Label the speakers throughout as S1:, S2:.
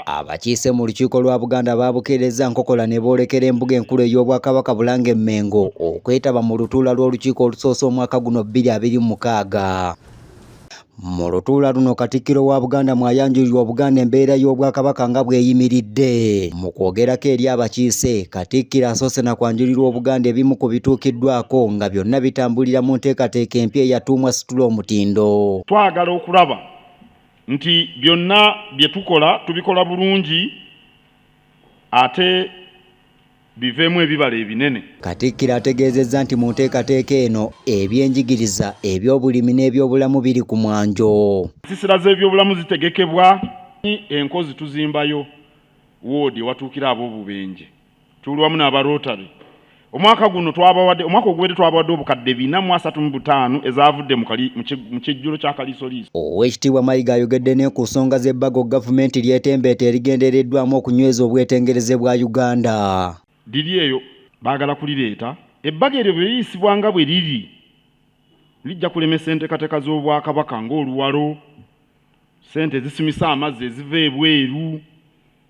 S1: Abakiise mu lukiiko
S2: lwa Buganda baabukeerezza nkokola ne boolekera embuga enkulu ey'Obwakabaka Bulange Mmengo okwetaba mu lutuula lw'olukiiko olusoose omwaka guno bbiri abiri mu mukaaga. Mu lutuula luno Katikkiro wa Buganda mwayanjulirwa Obuganda embeera y'Obwakabaka nga bweyimiridde. Mu kwogerako eri abakiise, Katikkiro asoose na kwanjulirwa Obuganda ebimu ku bituukiddwako nga byonna bitambulira mu nteekateeka empya eyatuumwa Situla Omutindo. Twagala okulaba
S1: nti byonna bye tukola tubikola bulungi ate biveemu ebibala ebinene. Katikkiro ategeezezza
S2: nti mu nteekateeka eno ebyenjigiriza, ebyobulimi n'ebyobulamu biri ku mwanjo. Ensiisira z'ebyobulamu
S1: zitegekebwa, enkozi tuzimbayo woodi ewatuukira ab'obubenje. tuli wamu n'aba Rotary omwaka guno twabawadde omwaka oguwedde twabawadde obukadde bina mu asatu mu butaano ezaavudde mu kijjulo kya kaliisoliiso oweekitiibwa mayiga
S2: ayogedde ne ku nsonga z'ebbago gavumenti lyetembeeta erigendereddwamu okunyweza obwetengereze bwa uganda liri eyo
S1: baagala kulireeta ebbago eryo bwe liyisibwa nga bwe liri lijja kulemesa enteekateeka z'obwakabaka ng'oluwalo ssente ezisimisa amazzi eziva ebweru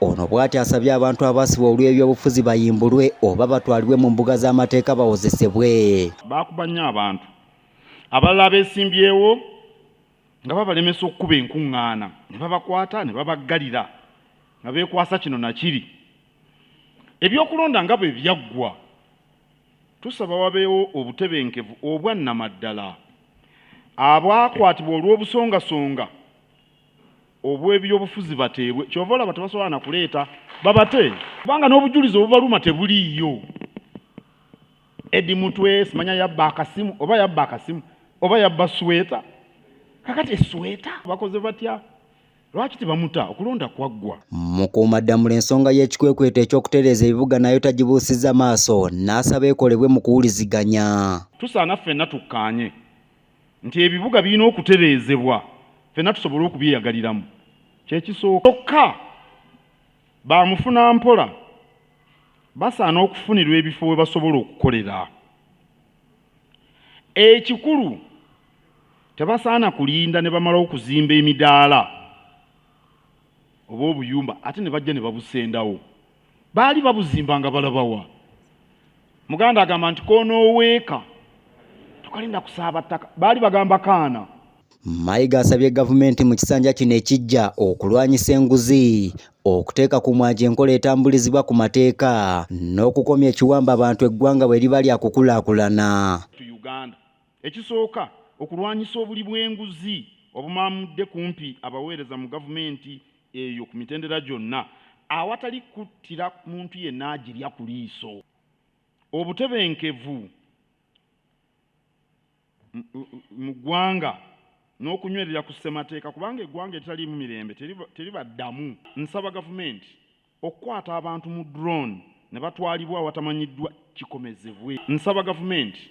S2: Ono bwati asabye abantu abasibwa olw'ebyobufuzi bayimbulwe oba batwalibwe mu mbuga z'amateeka bawozesebwe. Baakuba nnyo
S1: abantu. Abalala abeesimbyewo nga babalemesa okukuba enkuŋŋaana ne babakwata ne babaggalira nga beekwasa kino na kiri. Ebyokulonda nga bwe byaggwa, tusaba wabeewo obutebenkevu obwa nnamaddala. Abaakwatibwa olw'obusongasonga. obw'ebyobufuzi bateebwe kyova olaba tebasobola na kuleeta babate kubanga n'obujulizi obubaluma tebuliiyo edi mutwe simanya yabba akasimu oba yabba akasimu oba yabba sweta kakati esweta bakoze batya lwaki tebamuta okulonda kwaggwa mukuumaddamula
S2: ensonga y'ekikwekweto eky'okutereeza ebibuga nayo tagibuusiza maaso n'asaba ekolebwe mu kuwuliziganya tusaana ffenna
S1: tukkaanye nti ebibuga birina okutereezebwa fenna tusobole okubyeyagaliramu kyekisooka kyokka bamufuna mpola basaana okufunirwa ebifo we basobola okukolera ekikulu tebasaana kulinda ne bamala okuzimba emidaala oba obuyumba ate ne bajja ne babusendawo baali babuzimba nga balabawa muganda agamba nti konoweeka tokalinda kusaaba ttaka baali bagamba kaana mayiga
S2: asabye gavumenti mu kisanja kino ekijja okulwanyisa enguzi okuteeka ku mwaji enkola etambulizibwa ku mateeka n'okukomya ekiwamba abantu eggwanga bwe liba lya kukulaakulana
S1: ekisooka okulwanyisa obuli bw'enguzi obumamudde kumpi abaweereza mu gavumenti eyo ku mitendera gyonna awatali kuttira muntu yenna agirya ku liiso obutebenkevu mu ggwanga n'okunywerera ku ssemateeka kubanga eggwanga eritaliimu mirembe teribaddamu nsaba gavumenti okukwata abantu mu drone ne batwalibwa awatamanyiddwa kikomezebwe nsaba gavumenti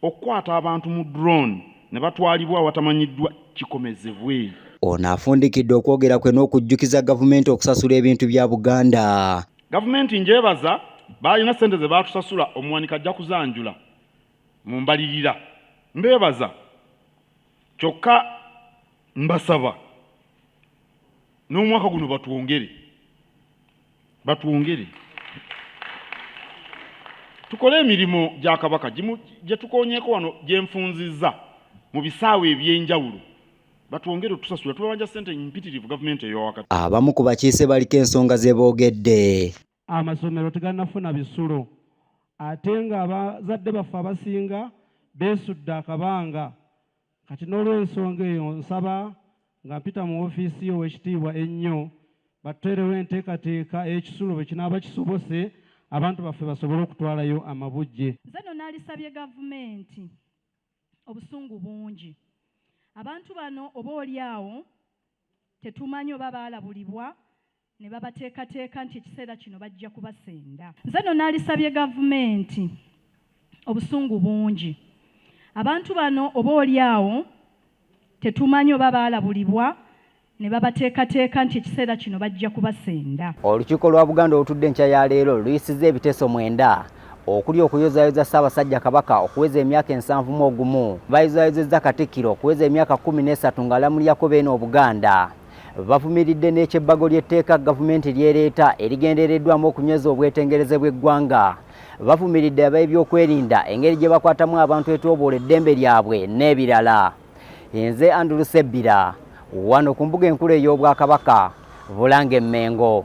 S1: Okukwata abantu mu drone ne batwalibwa awatamanyiddwa kikomezebwe. Ono
S2: afundikidde okwogera kwe n'okujjukiza gavumenti okusasula ebintu bya Buganda. Gavumenti njebaza
S1: baalina ssente ze baatusasula omuwanika ajja kuzanjula mu mbalirira. Mbeebaza kyokka mbasaba n'omwaka guno batwongere. batwongere tukole emirimu gya kabaka gye tukonyeeko wano gye nfunzizza mu bisaawe eby'enjawulo batwongere otusasula tubabanja ssente mpitirivu gavumenti eyo wakati abamu ku bakiise
S2: baliko ensonga ze boogedde amasomero
S3: teganafuna bisulo ate ng'abazadde baffe abasinga beesudde akabanga Kati n'olwensonga eyo nsaba nga mpita mu ofiisi yo owekitiibwa ennyo batuteerewo enteekateeka ey'ekisulo bwe kinaaba kisobose abantu baffe basobole okutwalayo amabujje. Nze nno nalisabye
S4: gavumenti obusungu bungi abantu bano oba oli awo Tetumanyi oba baalabulibwa ne babateekateeka nti ekiseera kino bajja kubasenda. Nze no naalisabye gavumenti obusungu bungi. Abantu bano oba oli awo tetumanyi oba baalabulibwa ne babateekateeka nti ekiseera kino bajja kubasenda. Olukiiko lwa Buganda
S2: olutudde enkya ya leero luyisizza ebiteeso mwenda okuli okuyozaayoza Ssaabasajja Kabaka okuweza emyaka ensanvu mu ogumu, bayozaayozezza Katikkiro okuweza emyaka kkumi n'esatu ng'alamuliako Beene Obuganda. Bavumiridde n'ekyebbago ly'etteeka Gavumenti ly'ereeta erigendereddwamu okunyweza obwetengereze bw'eggwanga. Bavumiridde ab'ebyokwerinda engeri gye bakwatamu abantu etyooboola eddembe lyabwe n'ebirala. Nze Andrew Sebbira, wano ku mbuga enkulu ey'Obwakabaka, Bulange Mmengo.